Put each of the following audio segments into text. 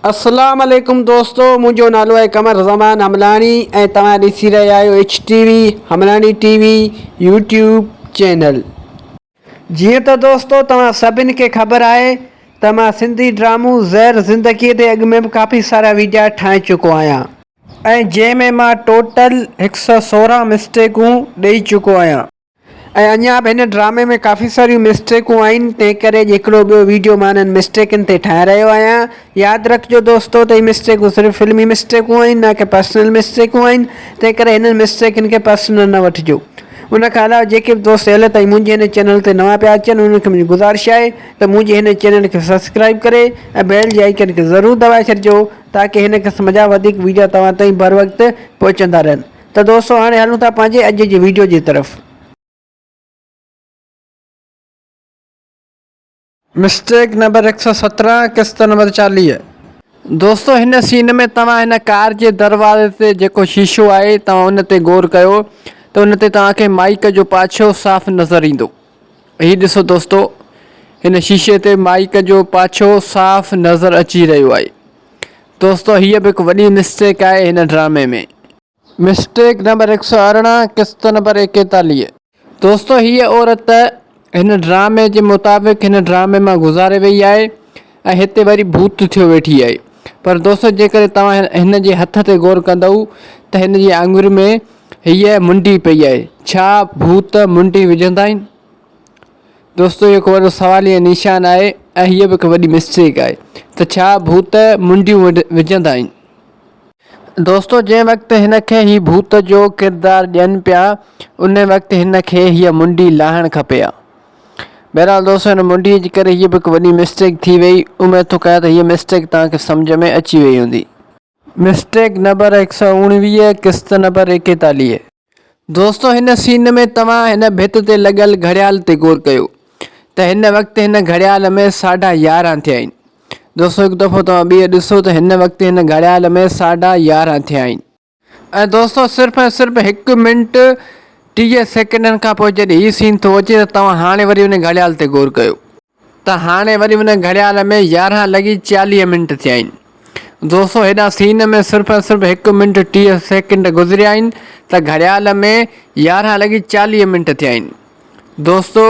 اسلام عليڪم دوستو منهنجو نالو آهي قمر زمان حملاڻي ۽ توهان ڏسي رهيا آهيو H T V Hamlani T V YouTube channel جيئن ته دوستو توهان سڀني کي خبر آهي ته مان سنڌي ڊرامو زهر زندگي تي اڳ ۾ به ڪافي سارا ويڊيا ٺاهي چڪو آهيان ۽ جنهن ۾ مان ٽوٽل هڪ سؤ سورهن مسٽيڪون ڏئي چڪو آهيان. ۽ اڃا به هن ڊرامي ۾ ڪافي ساريون مسٽيڪون آهن تنهن ڪري اڄ هڪڙو ٻيو ويڊيو مان انهن مسٽيڪن تي ٺاهي رهيو آهيان ياد رکجو دوستو ته هي مسٽيڪون صرف فلمي مسٽيڪون آهن نه ڪي پرسنل مسٽيڪون آهن تنهن ڪري هنن مسٽيڪن کي پرسنل نه وٺجو ان کان علاوه جيڪي به دوست هل تائين منهنجي هن چينل تي نوان پيا اچن انهن کي منهنجي گذارش آهي ته منهنجي هن چينل کي سبسڪرائيب ڪري ۽ بيل جي آئيڪن کي ضرور دٻائي ڇڏجو تاڪي هن قسم جا وڌيڪ ويڊيا توهان تائين بروقت پهچندا رهن ته دوستو هاڻي هلون ٿا پنهنجي اڄ جي ويڊيو جي طرف. مسٽيڪ نمبر هڪ سؤ سترهن قسط نمبر چاليهه. دوستو هن سين ۾ توهان هن ڪار جي دروازي تي جيڪو شيشو آهي توهان ان تي غور ڪيو ته ان تي توهان کي مائيڪ جو پاڇو صاف نظر ايندو هي ڏسو دوستو هن شيشي تي مائيڪ جو پاڇو صاف نظر اچي رهيو آهي دوستو هيء به هڪ وڏي مسٽيڪ آهي هن ڊرامي ۾. مسٽيڪ نمبر هڪ سؤ ارڙهن قسط نمبر ايڪيتاليهه. دوستو هيء عورت هن ڊرامي جي مطابق هن ڊرامي مان گذاري وئي آهي ۽ هتي وري ڀوت ٿيو ويٺي آهي پر دوستو جيڪڏهن توهان هن جي هٿ تي غور ڪندؤ ته هن جي آڱرين ۾ هيء منڊي پئي آهي ڇا ڀوت منڊي وجهندا آهن؟ دوستو هي هڪ وڏو سواليه نيشان آهي ۽ هيء به هڪ وڏي مسٽيڪ آهي ته ڇا ڀوت منڊيون وجهندا آهن؟ دوستو جنهن وقت هن کي هي ڀوت جو ڪردار ڏين پيا ان وقت هن کي هيء منڊي لاهڻ کپي ها. بهرحال دوستو هن منڊيء جي ڪري هيء به هڪ وڏي مسٽيڪ ٿي وئي. اميد ٿو ڪيان ته هيء مسٽيڪ توهان کي سمجهه ۾ اچي وئي هوندي. مسٽيڪ نمبر هڪ سؤ اڻويهه قسط نمبر ايڪيتاليهه. دوستو هن سين ۾ توهان هن ڀت تي لڳل گهڙيال تي غور ڪيو ته هن وقت هن گهڙيال ۾ ساڍا يارهن ٿيا آهن دوستو هڪ دفعو توهان ٻيهر ڏسو ته هن وقت هن گهڙيال ۾ ساڍا يارهن ٿيا آهن ۽ دوستو صرف ۽ صرف هڪ منٽ ٽيهه سيڪنڊن کان پوء جڏهن هي سين ٿو اچي ته توهان هاڻي وري ان گهڙيال تي غور ڪيو. ته هاڻي وري ان گهڙيال ۾ يارهن لڳي چاليهه منٽ ٿيا آهن. دوستو هيڏانهن سين ۾ صرف ۽ صرف هڪ منٽ ٽيهه سيڪنڊ گذريا آهن ته گهڙيال ۾ يارهن لڳي چاليهه منٽ ٿيا آهن. دوستو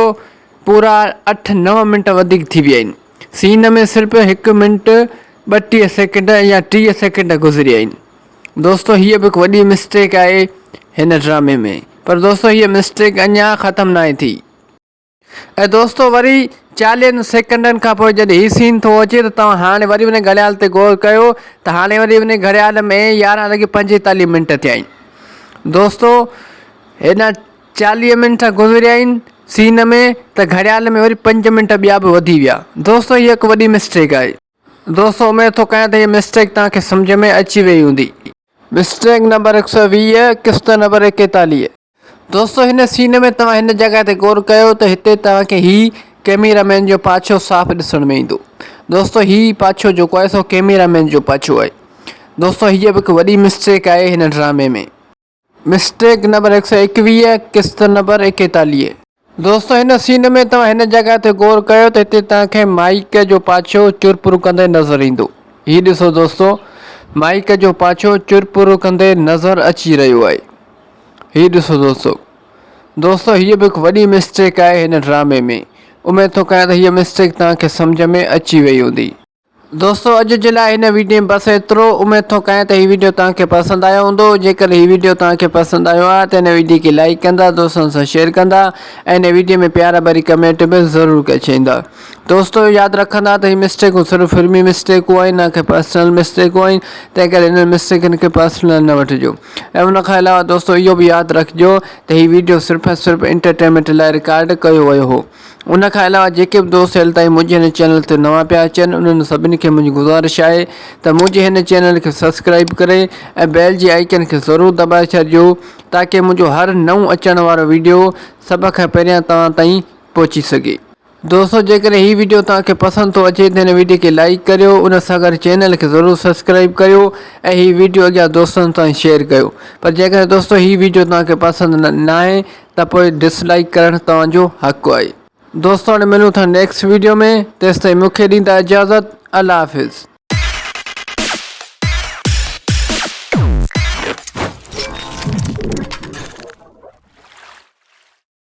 پورا اٺ نو منٽ وڌيڪ ٿي ويا آهن. سين ۾ صرف هڪ منٽ ٻٽيهه سيڪنڊ يا ٽيهه سيڪنڊ گذريا آهن. دوستو هيء به هڪ وڏي مسٽيڪ آهي هن ڊرامي ۾ پر دوستو هيء مسٽيڪ اڃا ختم ناهي ٿي. اي دوستو وري چاليهن سيڪنڊن کان پوء جڏهن هي سين ٿو اچي ته توهان هاڻي وري انهي گهڙيال تي غور ڪيو ته هاڻي وري انهي گهڙيال ۾ يارهن لڳي پنجيتاليهه منٽ ٿيا آهن دوستو هيڏانهن چاليهه منٽ گذريا آهن سين ۾ ته گهڙيال ۾ وري پنج منٽ ٻيا به وڌي ويا دوستو هي هڪ وڏي مسٽيڪ آهي دوستو اميد ٿو ڪيان ته هي مسٽيڪ توهان کي سمجهه ۾ اچي وئي هوندي. مسٽيڪ نمبر هڪ سؤ ويهه قسط نمبر ايڪيتاليهه. دوستو هن سين ۾ توهان هن جڳهه تي غور ڪيو ته هتي توهان کي هي ڪيميرا مين جو پاڇو صاف ڏسڻ ۾ ايندو دوستو هي پاڇو جيڪو آهي سو ڪيميرا مين جو پاڇو آهي دوستو هيء به هڪ وڏي مسٽيڪ آهي هن ڊرامي ۾ مسٽيڪ نمبر هڪ سؤ ايڪويهه قسط نمبر ايڪيتاليهه. دوستو هن سين ۾ توهان هن جڳهه تي غور ڪيو ته هتي توهان کي مائيڪ جو پاڇو چر پور ڪندي نظر ايندو. هي ڏسو دوستو مائيڪ جو پاڇو چر پور ڪندي نظر اچي رهيو آهي. هي ڏسو دوستو. دوستو هيء به هڪ وڏي مسٽيڪ آهي هن ڊرامي ۾. اميد ٿو ڪريان ته هيء مسٽيڪ توهان کي سمجهه ۾ اچي وئي هوندي. دوستو اڄ جي لاء هن ويڊيو ۾ بس ايترو، اميد ٿو ڪيان ته هي ويڊيو توهان کي پسند آيو هوندو، جيڪڏهن هي ويڊيو توهان کي پسند آيو آهي ته هن ويڊيو کي لائيڪ ڪندا، دوستن سان شيئر ڪندا ۽ هن ويڊيو ۾ پيار ڀري ڪمينٽ به ضرور ڪچيندا. دوستو ياد رکندا ته هي مسٽيڪون صرف فلمي مسٽيڪون آهن نه ڪي پرسنل مسٽيڪون آهن تنهن ڪري انهن مسٽيڪن کي پرسنل نه وٺجو ۽ ان کان علاوه دوستو اهو به ياد رکجو ته هي ويڊيو صرف ۽ صرف انٽرٽينمينٽ لاء رڪارڊ ڪيو ويو هو. ان کان علاوه جيڪي به دوست هيل تائين منهنجي هن چينل تي نوان پيا اچن انهن سڀني کي منهنجي گذارش آهي ته منهنجي هن چينل کي سبسڪرائيب ڪري ۽ بيل جي آئيڪن کي ضرور دٻائي ڇڏجو تاڪي منهنجو هر نئون اچڻ وارو ويڊيو سڀ کان پهريان توهان تائين پهچي سگهي. دوستو جيڪڏهن هي ويڊيو توهان کي پسند ٿو اچي ته هن ويڊيو کي لائيڪ ڪريو ان سان گڏ چينل کي ضرور سبسڪرائيب ڪريو ۽ هي ويڊيو اڳيان دوستن تائين شيئر ڪيو پر جيڪڏهن دوستو هي ويڊيو توهان کي پسند نه ناهي ته پوء ڊس لائيڪ ڪرڻ توهان جو حق آهي دوستو هاڻي ملون ٿا نيڪسٽ ويڊيو ۾ تيستائين مون کي ڏيندا اجازت الله حافظ.